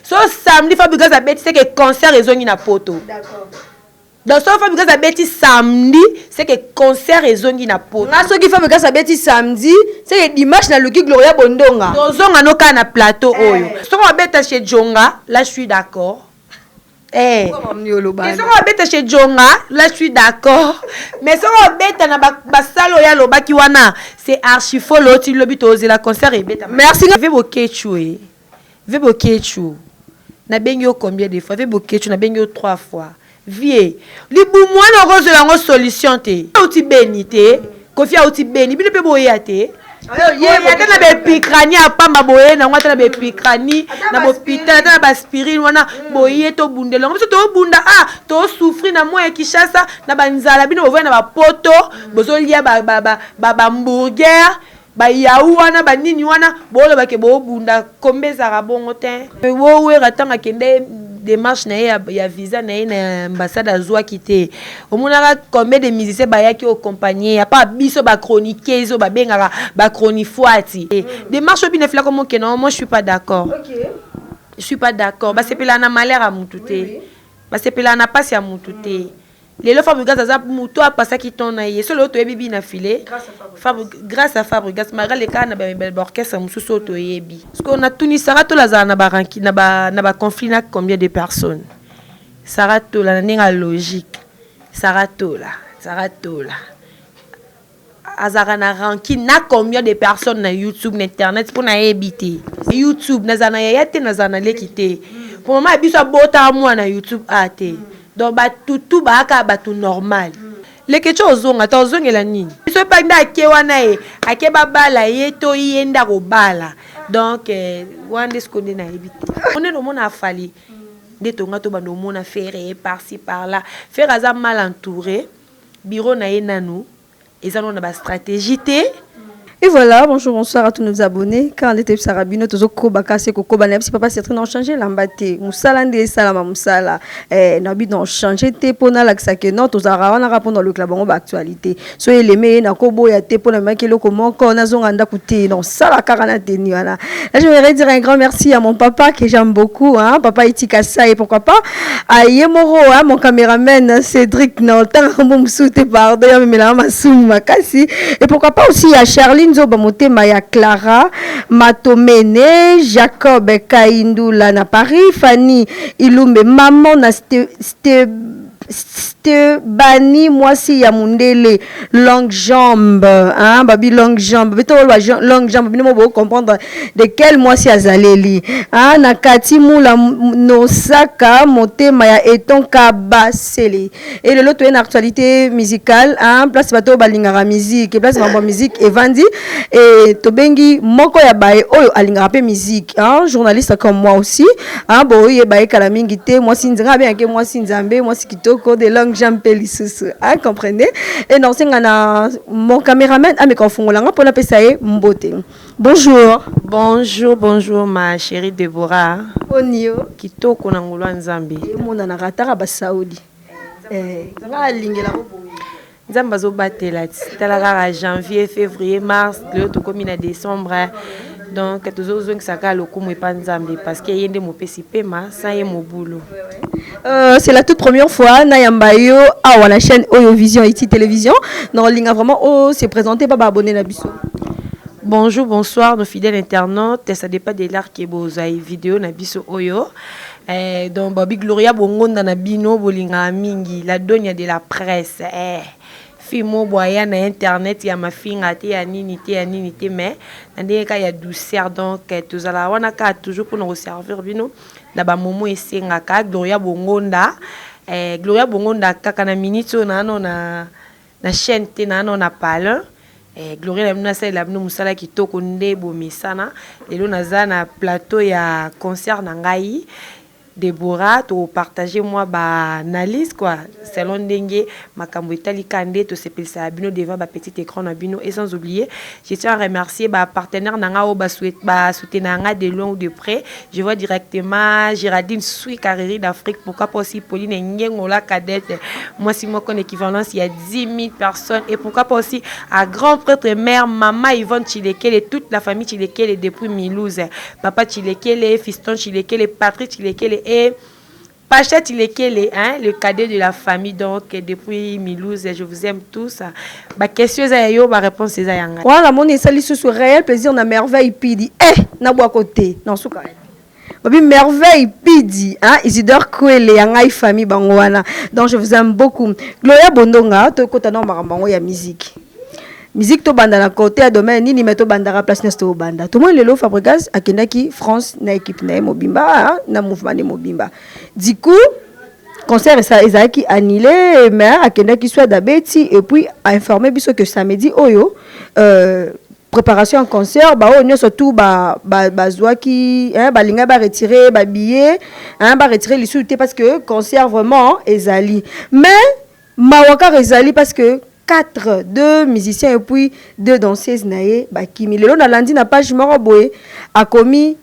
so samedi fabrigas abeti seke concert ezongi na poto donc soki fabrigas abeti samedi seke concert ezongi na poto nga soki fabrigas abeti samedi seke dimanche naluki gloria bondonga tozonga no kaka na plateau eh. oyo eh. soki abeta chez jonga la je suis d'accord Eh. mais soki abeta chez jonga la je suis d'accord mais soki abeta na basale oyo alobaki wana c'est archifolo ti lobi tozela concert ebeta merci bokechue Vieux Boketshu, nabengi yo combien de fois? Vieux Boketshu, nabengi yo trois fois. Vieux, libumu wana okozwela yango solution te. Auti Beni te, Koffi auti Beni, bino mpe boya te. Boye ata na bepicranie ya pamba boye nango, ata na bepicranie, na bopital, ata na baspirine wana boye, tobundela yango. Biso tobunda a, tosouffrir na moya Kinshasa, na banzala, bino bovandi na bapoto, bozolia ba hamburger. Ba yahou wana ba nini wana boloba ke bo bunda combat ezalaka bongo tein. Yo werra tango akenda ye demarche naye ya visa naye na ambassade azuaki te omonaka combien de musiciens bayaki o compagne ye apa biso ba chroniqueuse oyo babengaka ba chronifuati demarche oyo bino efela koma okende yango moi je suis pas d'accord je suis pas d'accord basepelaka na malheur ya mutu te basepelaka na pasi ya mutu te. Lelo Fabregas aza mutu a pasaki temps na ye. So lelo toyebi bi na filet. Grace à Fabregas Marie aleka na ba orchestre mususu oyo toyebi. Sikoyo na tuni Sarah Tola azala na ba ranki na ba na ba conflit na combien de personne? Sarah Tola na ndenge ya logique Sarah Tola Sarah Tola. azalaka na rancune na combien de personnes na youtube na internet mpo nayebi te youtube nazala na yaya te nazala na leki te mpo mama ya biso abotaka mwana na youtube a ah, te donc batutu baaka bato normal lekece ozonga ta ozongela nini biso epai nde ake wana ye ake babala ye to ye nde akobala donc eh, wana nde siko nde nayebi te onene omona afali nde tonga tobanda omona fere ye parci par là fere aza mal entouré Bureau na ye nanu eza nanu na ba strategie te. Et voilà bonjour bonsoir à tous nos abonnes kaka nde toyebisaka bino tozo koba kaka se kokoba nayebisi papa Sertine na change elamba te musala nde esalama musala eh nabi na change te po nalakisa ke non tozalaka wana kaka po na olukela bango ba actualité so eleme eye nakoboya te po namemaki eloko moko nazonga ndaku te non sala kaka na tenue wana là je voudrais dire un grand merci à mon papa que j'aime beaucoup hein papa Itika Saye pourquoi pas Ah, ye moko hein, mon cameraman hein, cédric na otanga kombo mosusu te pardon ya memelanga masumu makasi et pourquoi pas aussi ya charline zoba motema ya clara matomene jacob kaindula na paris fanny ilumbe maman na ste, ste, stebani mwasi ya mundele longue jambe hein babi longue jambe bito ba longue jambe bino bo comprendre de quel mwasi azaleli hein na kati mula nosaka motema ya eton kabasele et lelo toye na actualité musicale hein place bato balingaka musique et place mambo musique evandi et tobengi moko ya baye oyo alingaka pe musique hein journaliste comme moi aussi hein boye baye kala mingi te mwasi nzambe abengaki mwasi nzambe mwasi kitoko de langue jean mpe lisusu a comprenez e na osenga na mon cameraman ameka kofungola nga mpo napesa ye mbote bonjour bonjour bonjour ma chérie deborah boni yo kitoko na ngolo ya nzambe emonanaka ataka basaudi eh, nga alingela ko Nzambe azo batela ti tala kaka janvier fevrier mars lelo tokomi na decembre donc tozo zongisa kaka lokumu epa Nzambe parce que ye nde mopesi pema sans ye mobulu Euh, c'est la toute première fois na yamba yo awa na chaîne oyo vision iti télévision na olinga vraiment o se présenter ba ba abonné na biso Bonjour, bonsoir, nos fidèles internautes. Ça dépend de l'art que vous avez vidéo na biso oyo. Eh donc Bobby Gloria bongonda na bino bolingaka mingi la donia de la presse eh fimo boya na internet ya mafinga te ya nini te ya nini te mais na ndenge ka ya douceur donc eh, tozala wana ka toujours mpona koservir bino na bamomo esengaka Gloria bongonda eh, Gloria bongonda kaka na minute oyo naano na Na chaine te nano na palin. Eh gloria na bino na salela bino musala kitoko nde bo mesana lelo naza na plateau ya concert na ngai Deborah to partager mwa ba analyse quoi selon ndenge makambu etali ka nde to sepelisaka bino devant ba petit ecran na bino et sans oublier Je tiens à remercier ba partenaires na nga oyo ba souhaite ba soutenir nga de loin ou de près. Je vois directement Géraldine Sui Carreri d'Afrique pourquoi pas aussi Pauline Ngengola cadette mwasi moko na équivalence ya 10 000 personnes et pourquoi pas aussi à grand prêtre et mère Mama Yvonne Chilekele toute la famille Chilekele depuis Milouse Papa Chilekele Fiston Chilekele Patrick Chilekele et Pashette Lekele hein le cadet de la famille donc depuis Milouze je vous aime tous ba question eza ya yo ba reponse eza ya nga. Wana namoni esali susu reel plaisir na merveille pidi eh na bwa ko te na suka eh babi merveille pidi hein isidore kwele ya ngai famille bango wana donc je vous aime beaucoup gloria bondonga to kota na makambo yango ya musique Musique to banda na cote ya domaine nini mais to bandaka place nest to banda. To moi lelo Fabregas akendaki France na équipe na mobimba ah, na mouvement de mobimba. Du coup concert ça ezalaki annulé mais akendaki soit d'abeti et puis a informé biso que samedi oyo euh, préparation en concert ba oyo nyonso tout ba ba bazwaki hein ba linga ba retirer ba billets hein ba retirer lisusu te parce que concert vraiment ezali mais Mawa kaka ezali parce que quatre deux musiciens et puis deux danseuses na ye bakimi lelo na landi na page moko boye akomi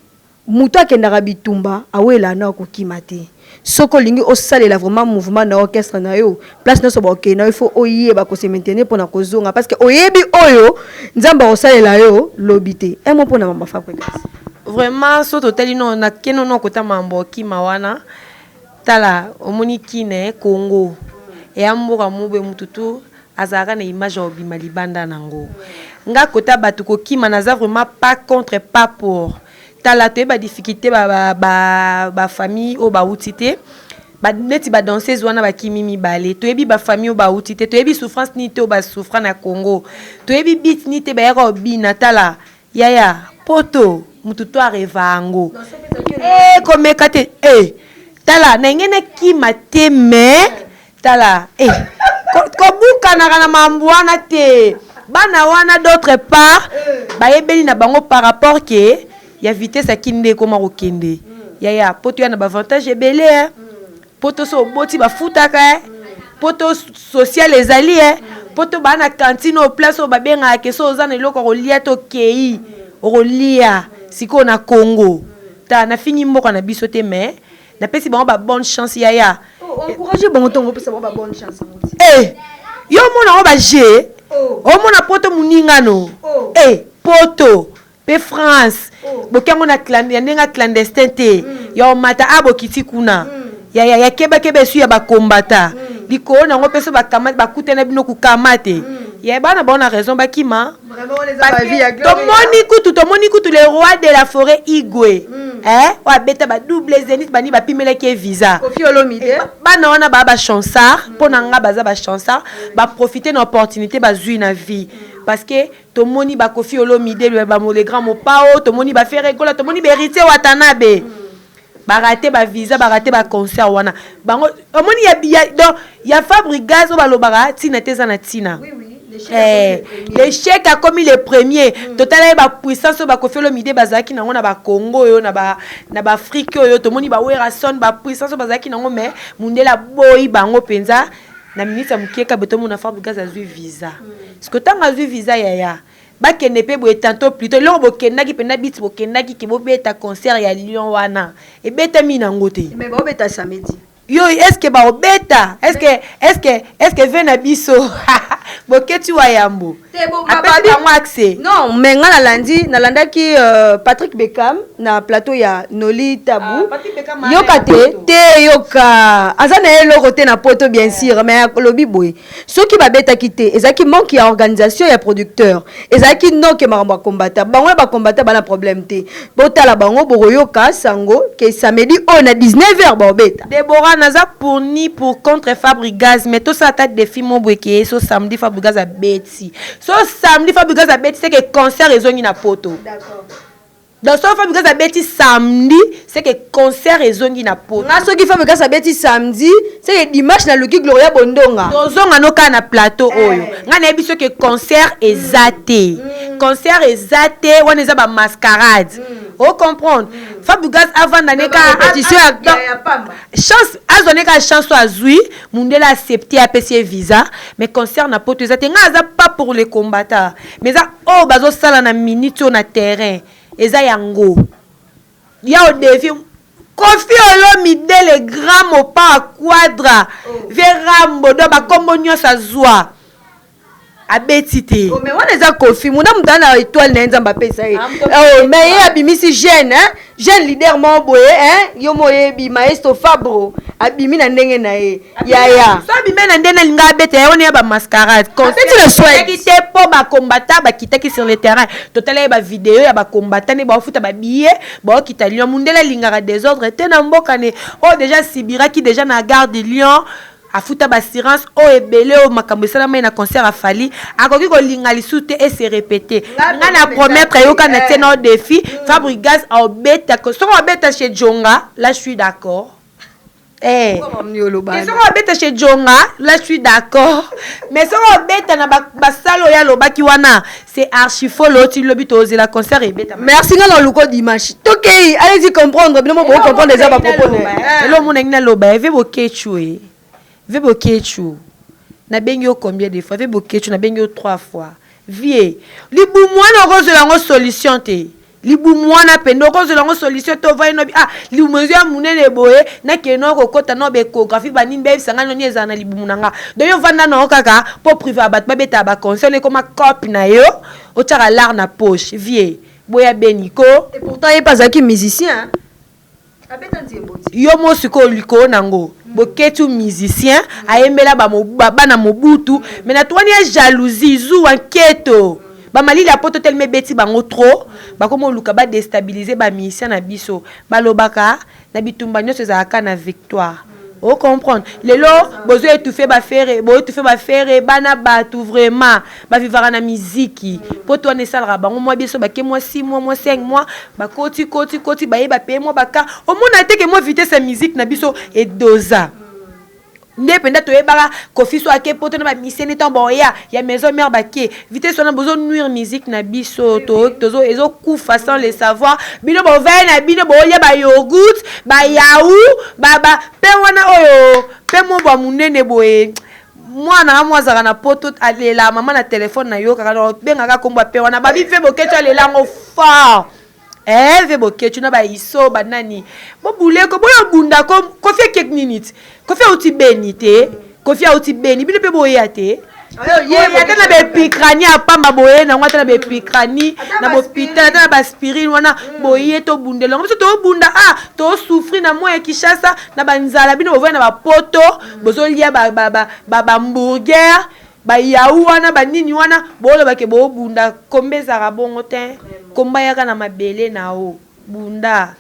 mutu akendaka bitumba awelaa na okokima te soki olingi osalela vraiment mouvement na orchestre na yo place nionso ba okende na yo il faut oyeba ko se maintenir pona kozonga parce que oyebi oyo nzambe akosalela yo lobi te un mot pona mama fabrigas. Vraiment soki totali no na keno no kota mambo okima wana. Tala omoni kin eh congo eya mboka moko boye mutu tout azalaka na image ya kobima libanda nango nga kota batu kokima naza vraiment pas contre pas pour tala toyeba difficulte ba ba ba famille oyo bawuti te ba neti ba danseuse wana bakimi mibale toyebi ba famille oyo bawuti te toyebi souffrance nini te oyo ba souffra na congo toyebi beat nini te bayaka kobina tala Yaya poto mutu to areva ango eh komeka te eh tala na lingi na kima te mais tala eh kobukanaka na mambu wana te bana wana d'autre part bayebeli na bango par rapport ke ya vitesse ya kin nde ekoma kokende yaya poto ya na ba avantage ebele eh Poto so oboti ba futaka eh. Poto social ezali eh. Poto ba na cantine au place au ba benga ke so oza na eloko ko lia to kei. Oko lia. Siko na Congo. Ta na fingi mboka na biso te mais na pesi bango ba bonne chance yaya. Oh encourager bango to ngo pesa bango ba bonne chance. Eh. Yo mona ngo ba je. Oh. Omona poto muninga no. Oh. Eh. Poto. pe France boki yango na ya ndenge ya clandestin te ya omata a bokiti kuna ya ya ya keba keba esu ya bakombata likolo na yango pe so bakama bakutana bino kukama te ya bana bango na raison bakima tomoni kutu tomoni kutu le roi de la forêt igwe eh oyo abeta ba double zenith bani bapimelaki ye visa bana wana baa bachansard mpo na nga baza bachansard baprofite na opportunité bazwi na vie parce que Tomoni ba Koffi Olomide, Luebamo le grand, Mopao, tomoni ba Ferre Gola, tomoni ba Heritier Watanabe. Ba rate ba visa, ba rate ba concert wana. Bango omoni ya ya donc ya Fabrigaz oyo balobaka tina te eza na tina. Oui, oui. Eh, l'échec akomi le premier mm. totala ye bapuissance oyo bakofi olomide bazalaki nango na bakongo oyo na baafrike oyo tomoni bawerason bapuissance oyo bazalaki nango mai mundele aboyi bango mpenza mm. na minutes ya mukie kabe tomona fabrigas azui visa siko ntango azui visa yaya bakende mpe boye tanto pluto eloko bokendaki mpenza biti bokendaki ke bobeta concert ya lion wana ebetami nango te mais baobeta samedi yo eske baobeta eske eske eske ve na biso boketi wa yambo apesi bango accès non mais nga nalandi nalandaki euh, patrick beckham na plateau ya noli tabu ah, yoka te te yoka aza na ye eloko te na poto bien sûr mais alobi boye soki babetaki te ezalaki manque ya organisation ya producteur ezalaki noke makambo ya kombata bango ya bakombata bana problème te botala bango bokoyoka sango ke samedi oyo na 19 heures baobeta Deborah naza pour ni pour contre Fabrigaz mais tosala ata defi moko boye ke so samedi Fabrigaz abeti so samedi Fabrigaz abeti c'est que concert ezongi na poto donc soki Fabrigaz abeti samedi c'est que concert ezongi na poto nga soki Fabrigaz abeti samedi c'est que dimanche naluki Gloria Bondonga tozonga no kaka na plateau oyo nga nayebi soki concert eza te concert eza te wana eza ba mascarade mm. o comprendre mm. fabugas avanda ne ka petition ya chance azwa ne ka chance oyo azwi mundele accepte apesi ye visa mais concert na poto eza te ngai aza pas pour le combattant mais eza oyo oh, bazosala na minute oyo na terrain eza yango ya odevi kofi olomide le grand mopa quadra oh. verambo do bakombo nyonso azwa abeti te oh, mais wana eza kofi muda mutu na etoile na ye nzambe apesa ye oh, mais ye abimisi jeune hein? jeune leader moko boye hein? yo mo oyebi maestro fabro abimi na ndenge na ye yaya so abimi na ndenge alinga abeta ye wana ya bamascarade abeti na swaki te mpo bakombata bakitaki sur le terrain totala ye bavideo ya bakombata nde baofuta babiye baokita lion mundele alingaka desordre te na mboka ne oyo oh, deja asibiraki deja na garde lion Afuta ba assurance oyo ebele oyo makambu esalamaki na concert ya Fally akoki kolinga lisusu te e se repeter nga na promettre yo kaka na tie na yo defi fabrigaz aobeta que soki abeta chez djonga la suis d'accord eh que soki abeta chez djonga la suis d'accord mais soki abeta na ba salle oyo alobaki wana C'est archi faux loti lobi to zela concert et beta. Merci nga na luko dimanche. Tokei, allez-y comprendre, bino mo bo comprendre déjà ba propos na. Hello mon na loba, eve bo ketchue. Ve bo ketchue. Na bengi yo combien de fois? Ve bo ketchue na bengi yo trois fois. Vie. Libu mwana okozela ngo solution te. libumu wana pende okozela yango solution te ovai nobi ah libumu ezo ya monene boye nakende nao kokota nao baecographie banini bayebisa ngai noni ezala na libumu na nga donc yo vanda nao kaka mpo prive ya bato babetaka baconseil no ekoma cope na yo otyaka lar na poche vie boya beni ko et pourtant ye mpe azalaki musicien Yo mo sikoyo likolo na ngo boketsu musicien ayembela ba bana mobutu mais na tuani ya jalousie zuwa nketo ba malili ya poto telema ebeti bango trop bakomi oluka ba destabiliser ba musicien na biso balobaka na bitumba nionso ezalaka na victoire o comprendre lelo bozo etouffe ba ferre bo etouffe ba ferre bana batu vraiment ba vivaka na miziki poto wana esalaka bango mwa bien so bake mwa six mois mwa cinq mois bakoti koti koti baye ba paye mwa ba ka omona te ke mwa vitesse ya miziki na biso e doza nde penda toyebaka kofiso ake poto na ba misene temps baoya ya maison mère bake vitesse wana bozo nuire musique na biso tozo ezo kufa sans le savoir bino bovai na bino boolya ba yogourt ba yau baba mpe wana oyo mpe mobwa monene boye mwana nga mwa azalaka na poto alela mama na telefone nayokaka nobengaka nkombo ya mpe wana babi mpe boketo alela yango fort Herve Boketshu na ba Iso ba nani bo bule ko boyo bunda ko Koffi akek nini ti Koffi auti Beni te Koffi auti Beni bino pe boya te boye ata na bepicrani ya pamba boye nango ata na bepicrani na bopital ata na baspirine wana boye tobundela yango biso tobunda a ah, tosouffrir na moi ya kishasa na banzala bino bovai na bapoto bozolia bambourger Ba yahu wana ba nini wana boloba ke bobunda combat ezalaka bongo tein combat yaka na mabele nao bunda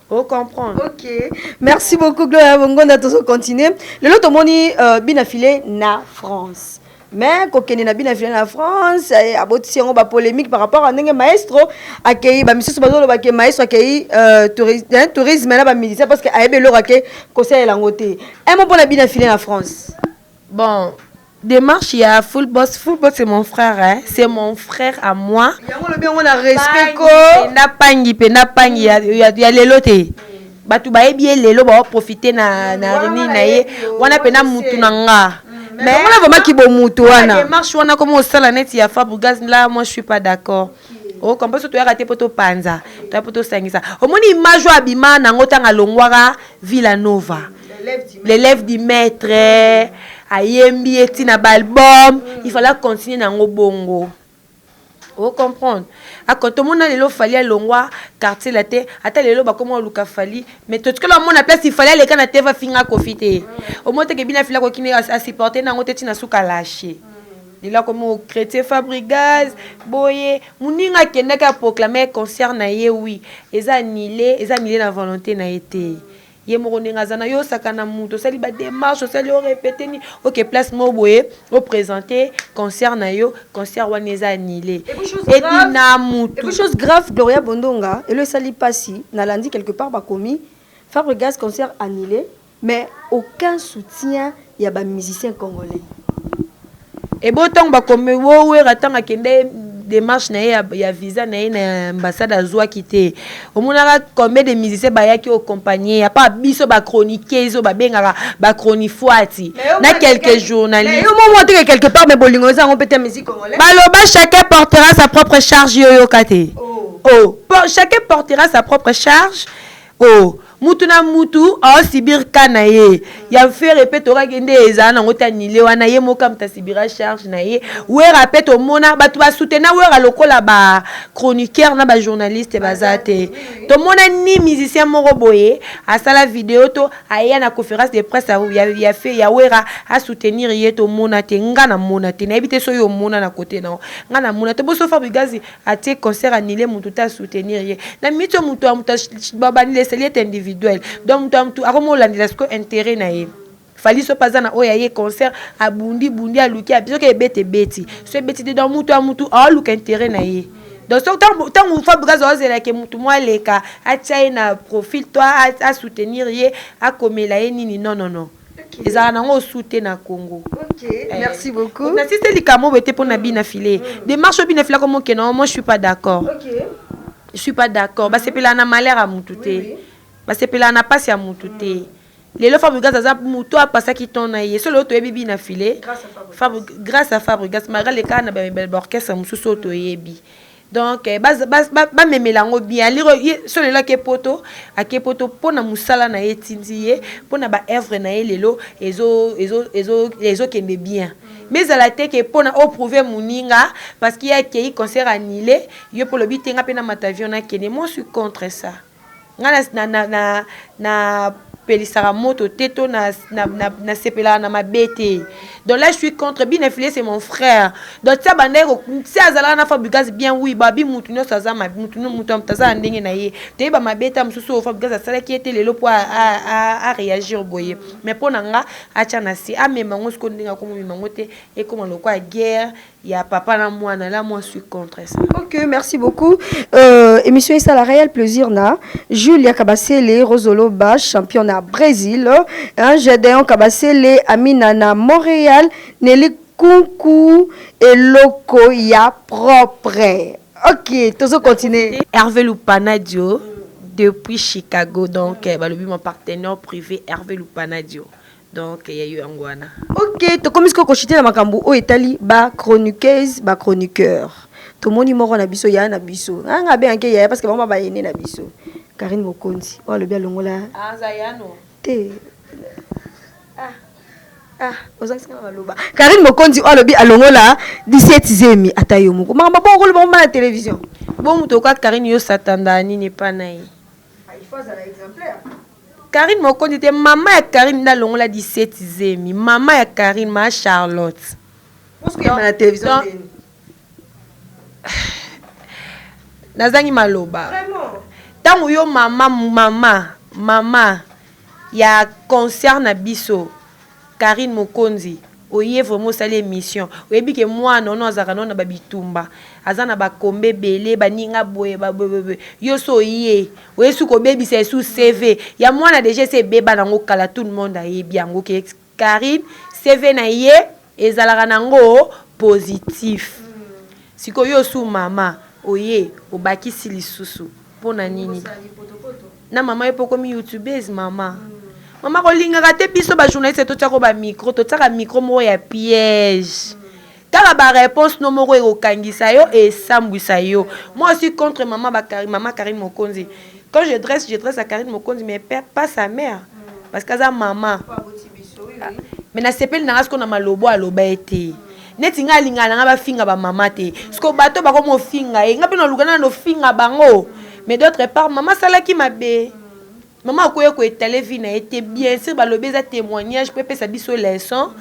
o comprendre. Ok merci beaucoup Gloria Bongonda tozo continuer lelo tomoni euh, bina file na France mais kokende na bina fina na france eh, abotisi yango bapolémique par rapport a ndenge maestro akei bamisusu bazoloba ke maestro akei euh, hein, tourisme na bamusicien parce que ayebi eloko ake kosalela yango te un mot mpo na bina fina na france Bon demarche ya full boss full boss c'est mon frère hein c'est mon frère à moi yango lobi yango na respect ko na pangi pe na pangi ya, ya, ya lelo te bato bayebi ye lelo baoprofite na, na rini na ye wana mpe na mutu na nga mais vraiment kibomutu wana demarche wana koma osala neti ya fabrigaz la moi je suis pas d'accord o comprendre soki toyaka te mpo topanza toya mpo tosangisa omoni image oyo abima nango ntango alongwaka villa nova l'élève du maître ayembi ye ntina baalbum mm. il fallait acontinue nango bongo ocomprendre tomona lelo fali alongwa quartier la te ata lelo bakoma oluka fali mais totikala omona place ifali aleka na teva finga kofi te mm. omoteke bino afila kokini asupporte nango te ntina suka lashe mm. Lilako moko chretien fabrigaz boye muninga akendaki a proclamer concert na ye oui eza annule eza annule na volonte na ye te ye moko ndenge aza na yo osakana mutu osali ba demarche osali o repete ni oke place moko boye o presente concert na yo concert wana eza annule epi na mutu chose grave gloria bondonga elo esali pasi na landi quelque part bakomi fabrigaz concert annule Mais aucun soutien ya ba musiciens congolais. Eboyo tango ba komi woo werra tango akende demarche na ye ya visa na ye na ambassade azuaki te omonaka combien de musiciens bayaki ocompagne ye apart biso ba chroniqueuse oyo babengaka ba chronifuati na quelque journaliste yo momo te quelque part mais bolingo eza yango pete musique congolais baloba chacun portera sa propre charge yo oyoka te oh, oh. chacun portera sa propre charge Po mutu na mutu ao subir cas na ye. Ya Nfere pe tokaki nde ezala nango te annule wana ye moko kamta subira charge na ye. Werra pe tomona batu ba soutena Werra lokola ba chroniqueurs na ba journalistes baza te. Tomona ni musicien moko boye asala video to aya na conference de presse ya Werra a soutenir ye tomona te. Nga na mona te. Nayebi te soki yo omona na cote na yo. Nga na mona te. Bo Sophar Bigazi atie concert annule mutu te a soutenir ye na minute oyo mutu ya mutu ba bandela esali ete individuel donc mutu ya mutu akomi olandela sikoyo interet na ye Fally soki pe aza na oyo ya ye concert abundi bundi aluki api soki ebeta ebeti soki ebeti te donc mutu ya mutu aoluka interet na ye donc soki tangu tangu Fabregas azozela ke mutu moko aleka atia ye na profil to a soutenir ye akomela ye nini non non non ezalaka nango osu te na congo eh, nasise likambo oyo te mpo na bina file mm. demarche oyo bina file ako mokena omo suis pas d'accord je suis pas d'accord mm. basepelaka na malheur ya mutu te basepelaka na mpasi ya mutu te mm. lelo fabrigas aza moto apasaki ton na ye so lelo toyebi bina file grâce à fabrigas malgré lekaka na baorchestre mosusu oyo toyebi donc eh, ba memela yango bien aliro ye solo lelo ake poto ake poto mpo na mosala na ye etindi ye mpo na baœuvre na ye lelo ezokende bien mais ezala te ke mpo na oprouve moninga parce que ye akei concert annule yo mpo olobi te nga mpe na matavion nakende moi suis contre ça Ngai na, na, na, na pelisaka moto te to na, na, na, na sepelaka na mabe te donc là je suis contre bina filet c'est mon frère donc tia bandaki ko si azalaka na fabricas bien oui babi mutu nyonso aza mabe mutu mutu mutu aza na ndenge na ye toyeba mabe ta mosusu oyo fabricas asalaki ye te lelo mpo a, a, a, a réagir boye mais mpo na nga atia na se amema yango sikoyo ndenge akomomema yango te ekoma lokola guerre ya papa na mwana la moi suis contre ça ok merci beaucoup euh, émission ça la réelle plaisir na Julia Kabasele Rozoloba champion na Brésil hein, Gedeon Kabasele Amina na Montréal Nelly Kunku eloko ya propre ok tozo continuer Hervé Lupanadio depuis Chicago donc eh, balobi mon partenaire privé Hervé Lupanadio Donc ya yo yango wana. Ok tokomi sikoyo ko chute na makambu oyo etali ba chroniqueuses ba chroniqueurs tomoni moko na biso yaya na biso nga nga abenga ke yaya parce que bango ba aine na biso Carine Mokonzi oyo alobi alongola aza yano te ah ah ozangisi nga maloba Carine Mokonzi oyo alobi alongola 17 zemi ata yo moko makambo bongo koloba ngo na television bo moto oka Carine yo satanda nini epa na ye ah, il faut azala exemplaire Carine mokonzi te maman ya carine nde alongola 17 zemi maman ya carine ma charlotte Pose koyamba na television ndeni? nazangi maloba ntango yo mama mama mama ya concert na biso Carine mokonzi oye vraiment osali emission oyebi ke muana ono azalaka nao na ba bitumba aza na ba combat ebele ba ninga boye ba boye yo si oye oye suka obebisa esu CV ya muana deja esi ebeba nango kala tout le monde ayebi yango ke carine CV na ye ezalaka nango positif sikoyo yo osu mama oye obakisi lisusu Pona nini na maman yo pe okomi youtubeuse maman maman kolingaka te biso ba journaliste totiako ba micro totiaka micro moko ya piège tala ba réponse no moko ekokangisa yo esambwisa yo moi aussi contre maman ba maman Karine Mokonzi quand je dresse je dresse à Karine Mokonzi mais pas sa mère parce que aza maman mais nasepeli nanga siko na malobo aloba ete neti nga alinga na nga bafinga ba mama te siko bato bako mofinga ye nga mpe naluka na nofinga bango mais d'autre part mama asalaki mabe mama akoya koetale vie na ye te bien sur balobi eza témoignage mpo epesa biso leçon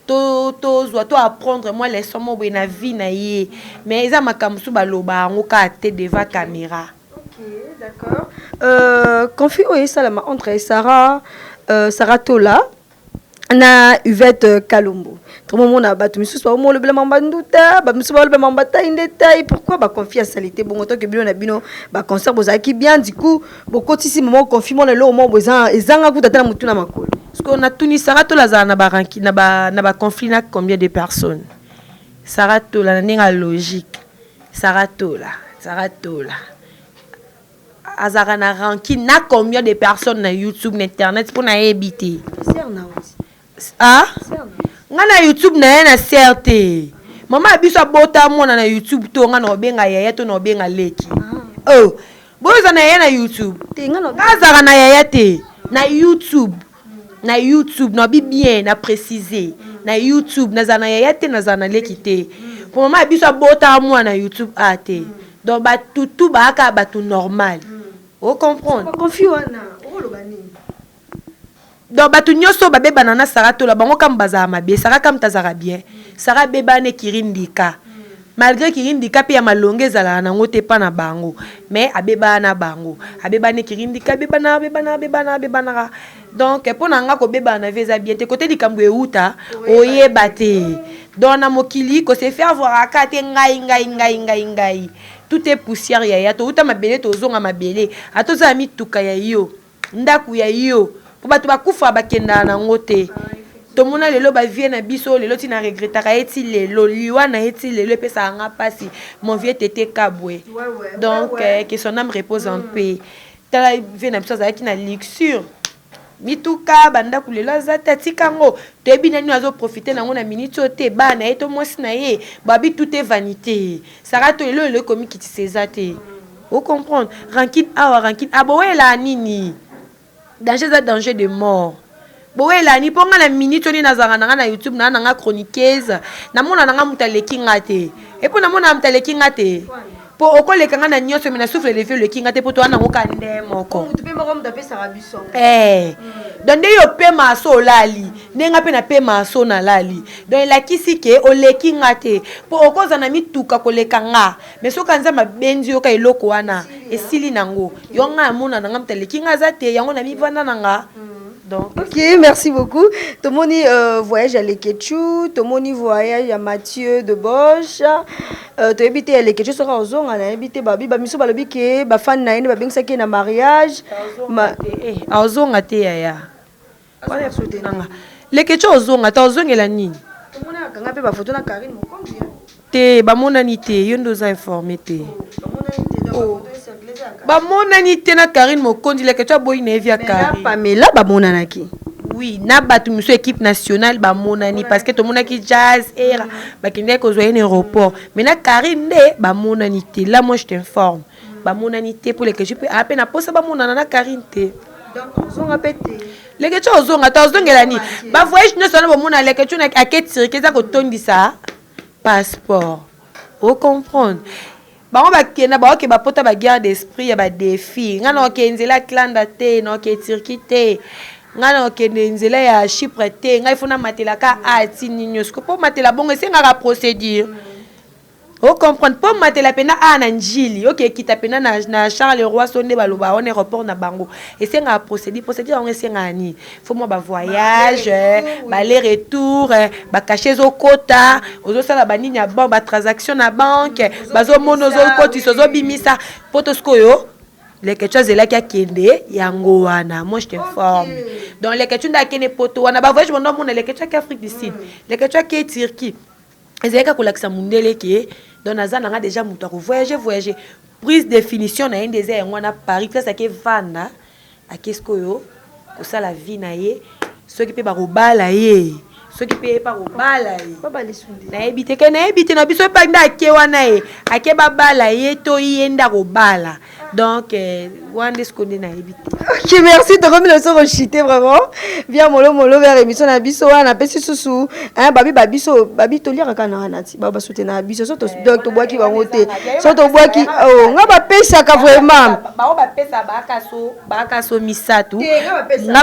tozwa to apprendre mwa leçon mo boye na vie na ye mais eza makambo mosusu baloba yango kaka te devant caméra Okay, d'accord. Euh, conflit oyo esalama entre Sarah, euh, Sarah Tola na uvette kalombo tomomona bato misusu baomolobela mambo ya nduta bamisusu balobela mambo batai nde tai pourkui baconfi ya salite bongo toke bino na bino baconcert bozalaki bien du coup bokotisi mama confi mona eloko moko ezanga kuta ata na motu na makolo siko natuni sara tola azala na baranki na baconflit na combien de personnes sara tola na ndenge ya logique sara tola sara tola azalaka na rancune na combien de personnes na youtube na internet mpo nayebi te ah? nga na youtube na ye na ser te mama ya biso abota mwana na youtube to nga na obenga yaya to na obenga leki ah. oh. boyoza na yaya na youtube nga azalaka na yaya te na youtube na YouTube na bi bien na precise na YouTube nazala na yaya te nazala na leki te po mama ya biso abotaka mwana na YouTube a ah, te donc batutu baaka bato normal o comprendre donc bato nyonso babebana na sara tola bango kama bazala mabe sara kama tazala bien sara abebana ekiri ndika Malgre kirindi ka pe ya malonga ezalaka nango te pa na bango mais abebaa na bango abeba ne kirindi ka abebana abebana abebana abebanaka donc pona nga kobebana na vie eza bien te kote likambu ewuta oyeba te donc na mokili ko se faire voir aka te ngai ngai ngai ngai ngai tout est poussière yaya towuta mabele tozonga mabele ata oza na mituka ya yo ndaku ya yo po batu ba kufa ba kendaka na ngo te tomona lelo ba vieux na biso lelo ti na regretaka ye ti lelo liwa na ye ti lelo epesaka nga pasi mon vieux tete kabwe donc que son ame repose en paix tala vieux na biso azalaki na luxure mituka ba ndaku lelo aza te atika ngo toyebi nani oyo azo profiter na ngo na minute oyo te bana na ye to mwasi na ye ba bi tout est vanite sara to lelo lelo komikitisa eza te O comprendre? Rancune awa, rancune awa, bowelaa nini? Danger eza danger de mort. Bowelaa nini? Po nga na minute oyo nde nazalaka na nga na YouTube na nanga chroniqueuse, namona na nga mutu aleki nga te. Et po namonaka mutu aleki nga te? Po okoleka nga na nionso mais na souffle de vie oleki nga te po toza na ngo kaka nde moko. Eeh! Donc nde yo opemaka soki olali, nde nga pe napemaka soki nalali. Donc elakisi que oleki nga te po okozala na mituka koleka nga. Mais soki ka nzambe abendi yo ka eloko wana esili nango yo ngai amona na ngai moto aleki ngai aza te yango na mivanda na nga donc ok merci beaucoup tomoni euh, voyage ya lekechou tomoni voyage ya mathieu de boche euh, toyebi te ya lekechou soki akozonga nayebi te babi bamiso balobi ke bafani na ye nde babengisaki ye na mariage Ma- aozonga te yaya Wana ya soutenir nga. Leketshou ozonga ata ozongela nini? Tomona akanga mpe ba photo na Carine mokonzi hein. Te bamonani te yo nde oza informe te. Ba monani te na Carine mokonzi leketshou aboyi naye vie ya Carine. Mais na Pamela ba monanaki. Oui na batu misusu ya equipe nationale ba monani parce que tomonaki jazz erra bakendaki kozua ye na aeroport mais na Carine nde ba monani te là moi je t'informe. ba monani te po leketshou pe a pe na posa ba monana na Carine te leketshou ozonga ta ozongela ni ba voyage nioso na bomona leketshou na ake tirike eza kotondisa passeport o comprendre bango bakenda baoke bapota ba guerre d'esprit ya ba défi nga na oke nzela atlanda te na oke tirki te nga na okende nzela ya chypre te ngai fo namatelaka a ti nini nyonso po matela bongo esengaka procédure mm. O comprendre po matela pena awa na ndjili ok ekita pena na na charle roi so nde baloba wana aeroport na bango esengaka procedure procedure yango esengaka nini faut mua ba voyage bale retour ba cache ezo kota ozo sala ba nini ya bank ba transaction na banque bazo mona ozo kotisa ozo bimisa poto sikoyo leketchu azelaki akende yango wana moi je t'informe donc leketchu nde akende poto wana ba voyage bando amona leketchu ake afrique du sud leketchu ake turquie Ezali kaka kolakisa mundele ke donc naza na nga deja moto ya ko voyager voyager prise de finition na ye nde eza yango wana Paris place ake vanda ake sikoyo kosala vie na ye soki mpe bakobala ye soki mpe epa kobala ye nayebi te ke nayebi te na biso epai nde ake wana ye ake babala ye to ye nde akobala donc euh, wana nde sikoyo nde nayebi te ok merci tokomi na biso kochite vraiment bia molomolo vers émission na biso wana napesi susu babi ba biso babi toliaka kaka na wana ti bao basoutenaka biso so donc tobwaki bango te so tobwaki oh, nga bapesaka vraiment bao bapesaka baakaso baakaso misato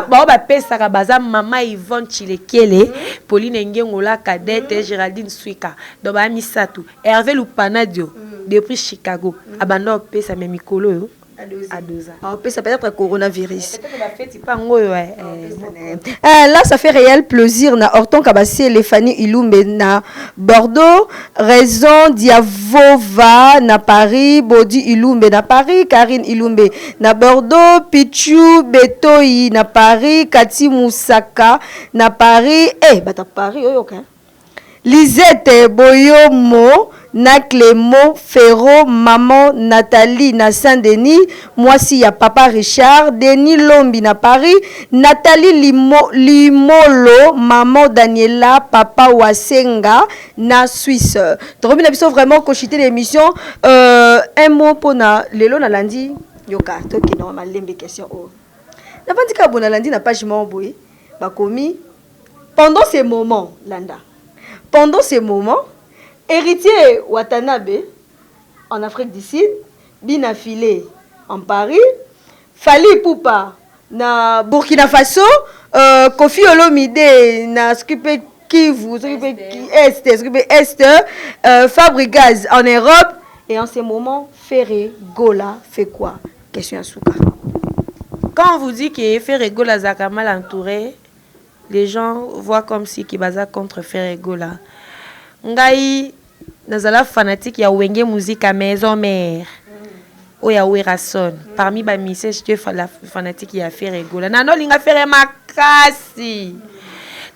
bao bapesaka baza mama ivone chilekele mhm. pauline engengola cadete mhm. géraldine swika donc baa misato Herve Lupanadio depuis Chicago abanda opesa mais mikolo oyo adoza aopesa peut-être coronavirus pangoyo eh, eh, eh, là ça fait réel plaisir na Horton Kabasele Fanny Ilumbe na Bordeaux raison Diavova na Paris Bodi Ilumbe na Paris Karine Ilumbe na Bordeaux Pichu Betoyi na Paris Kati Musaka na Paris eh bata Paris oyoka Lisette boyomo na clemo ferro maman Nathalie na saint denis mwasi ya papa Richard denis lombi na paris Nathalie limolo maman Daniela papa wasenga na suisse tokomi na biso vraiment koshite na emission euh un mot pona lelo na landi yoka tokende na malembe question oyo na fandi kaka boye na landi na page moko boye bakomi Pendant ce moment, landa, pendant ce moment, Heritier Watanabe en Afrique du Sud, Bina File en Paris, Fally Ipupa na Burkina Faso, euh, Koffi Olomide na soki pe Kivu, soki pe Est, soki pe Est, euh, Fabrigaz en Europe, Et en ce moment, Ferre Gola fait quoi Question à Souka. Quand on vous dit que Ferre Gola Zaka mal entouré, Les gens voient comme si que baza contre ferre gola ngai nazala fanatique ya wenge musica maison mère oyo ya werrason parmi ba musiciens j'etais fanatique ya ferre gola na nolinga ferre makasi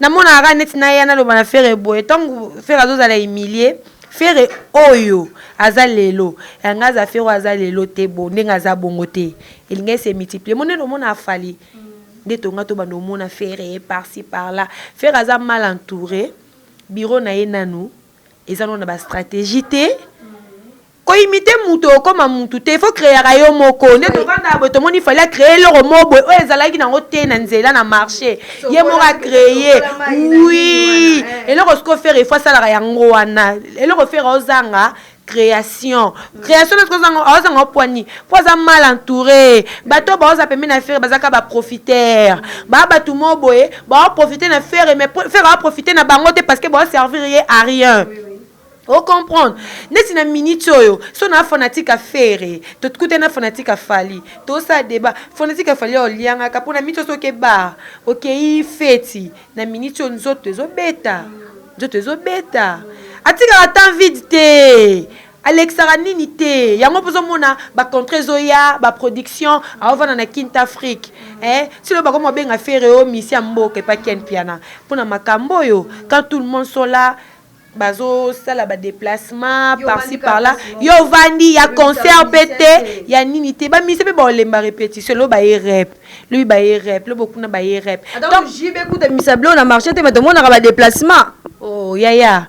namonaka kaka neti naya naloba na ferre boye ntango ferre azozala humilie ferre oyo aza lelo yanga aza ferre oyo aza lelo te bo ndenge aza bongo te elingai se multiplier monene omona afali nde tonga to bando mona ferre par ci par là ferre aza mal entouré bureau na ye nanu eza no na ba stratégie te koimite moto okoma motu te fo kreaka yo moko nde tovandaka boye tomoni fali akreye eloko moko boye oyo ezalaki nango te na nzela na marché ye moko akreye wi eloko siko fere efo asalaka yango wana eloko fere ozanga creation creation na kozanga ozanga opwani po aza mal entouré bato baoza pembeni na fere bazaka ba profiter ba bato mo boye bao profiter na fere mais fere ao profiter na bango te parce que bao servir ye à rien ocomprendre neti na minute oyo so na fanatique ya fere tokutani na fanatique ya fali tosala deba fanatique ya fali oliangaka mpo na minute oso oke bar okei feti Na minute oyo nzoto ezo beta nzoto ezo beta atikaka temps vide te alekisaka nini te yango mpo ozomona ba contrat ezoya ba production aovanda na kinte afrique eh, silo bakoma obenga ferre o misi ya mboka epa ken mpiana mpo na makambo oyo quand tout le monde sont là bazo sala ba deplacement par ci par là yo ovandi ya concert pe te ya nini te ba musicien pe ba olemba repetition lobi baye rep lobi baye rep lobo kuna baye rep donc JB kuta misa blo na marché te mais tomonaka ba deplacement oh yaya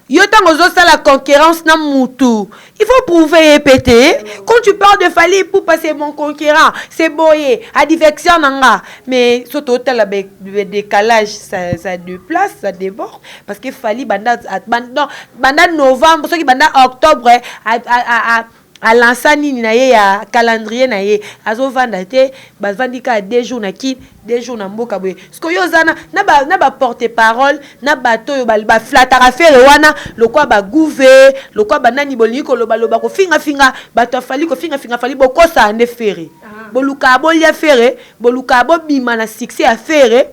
yo ntango ozosala concurrence na mutu Il faut prouver ye pe te. Quand tu parles de Fally Ipupa c'est mon conquérant, c'est boye, adversaire na nga. Mais so to tala be, be décalage ça ça de place, ça déborde parce que Fally banda at, ban- non, banda novembre soki banda octobre eh, a, a, a, a alansa nini na ye ya calendrier na ye azovanda te bavandi kaka deux jours na kin de jour na mboka boye siko yo oza na ba porte parole na bato oyo ba flataka fere wana lokwa ba guve lokwa banani bolingi koloba loba kofinga finga bato afali kofinga finga fali bokosaa nde fere ah. bolukaa bolia fere bolukaa bobima na succès ya fere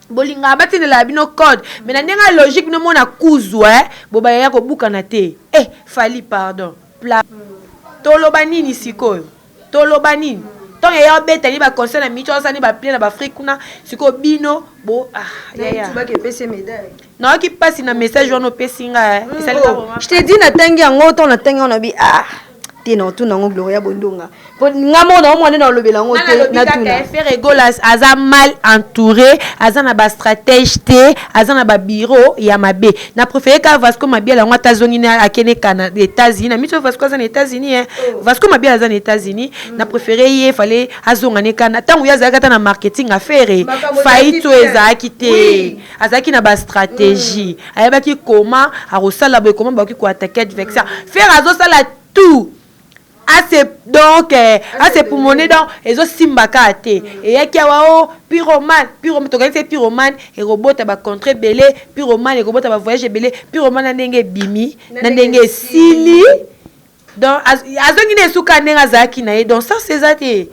bolingaka batindela bino code mais na ndenge ya logique bino mona kuzu e eh, bobaya ya kobukana te e eh, fali pardon pla toloba nini sikoyo Toloba nini? Tango yaya obeta ni ba concert na Micho asala ni ba plein na ba Afrique kuna sikoyo bino bo ah yaya. Nayoki pasi na message wana opesi nga eh. Mm, Esali oh. Je te dis na tangi yango to na tangi wana bi ah te na otuna yango Gloria Bondonga. Po nga mo na omwana na olobela yango te na tuna. Ferre Golas aza mal entouré, aza na ba stratège te, aza na ba bureau ya mabe. na prefere ka vasco mabiala yango ata azongi na akende kana états-unis na miso vasco aza na états-unis e oh. vasco mabiala aza na états-unis na mm. prefere ye fale azonga ne kana ntango ye azalaki ata na marketing affaire faillite oyo ezalaki te azalaki na bastratégie mm. ayebaki koma akosala boye koma bakoki koatake adversaire mm. fere azosala tout Ase donc eh, ase pumone donc ezo simba ka te. Eyaki awa oh pyromane, pyro tokanisi ye pyromane ekobota ba contrat ebele, pyromane ekobota ba voyage ebele, pyromane na ndenge ebimi, na ndenge esili. Donc azongi na esuka ndenge azalaki na ye donc sens eza te.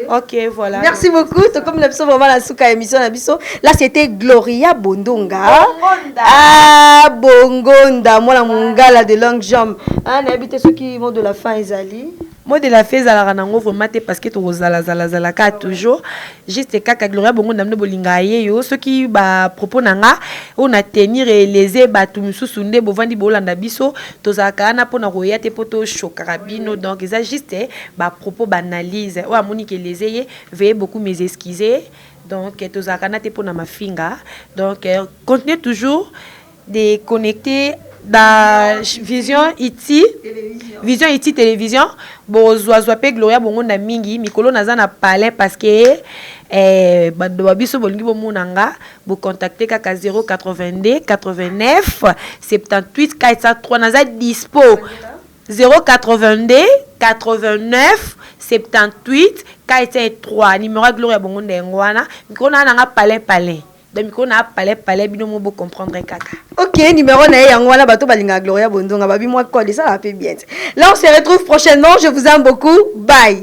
Ok, voilà. Merci beaucoup. Tout comme le psaume la souka émission na biso. Là c'était Gloria Bondonga. Bongonda. Ah Bongonda, moi la mongala de longue jambe. Ah, na habité ceux qui vont de la fin ezali. Moi de la fin ezalaka nango vraiment te parce que to zala zala zala ka toujours juste kaka Gloria Bongonda mno bolinga ye yo ceux qui ba propos nanga on a tenir et léser batu mususu nde bovandi bolanda biso tozalaka na pona koya te poto choka bino donc eza juste ba propos b'analyse oyo amoni ke leze ye veuillez beaucoup mes excuses donc tozalaka na te pona mafinga donc continuez toujours de connecter ba vision iti vision iti television bozuazua mpe gloria bongonda mingi mikolo naza na palin parce que eh, bando ba biso bolingi bomona nga bocontacte kaka 082 89 78 403 naza dispo 082897843 numero ya gloria bongo nde yango wana mikolo na nanga palin palin donc mikolo na palin palin bino mo bo comprendre kaka ok numero na ye yango wana bato balingaka gloria bondonga babi mwa code esalaka mpe bien te là on se retrouve prochainement je vous aime beaucoup bye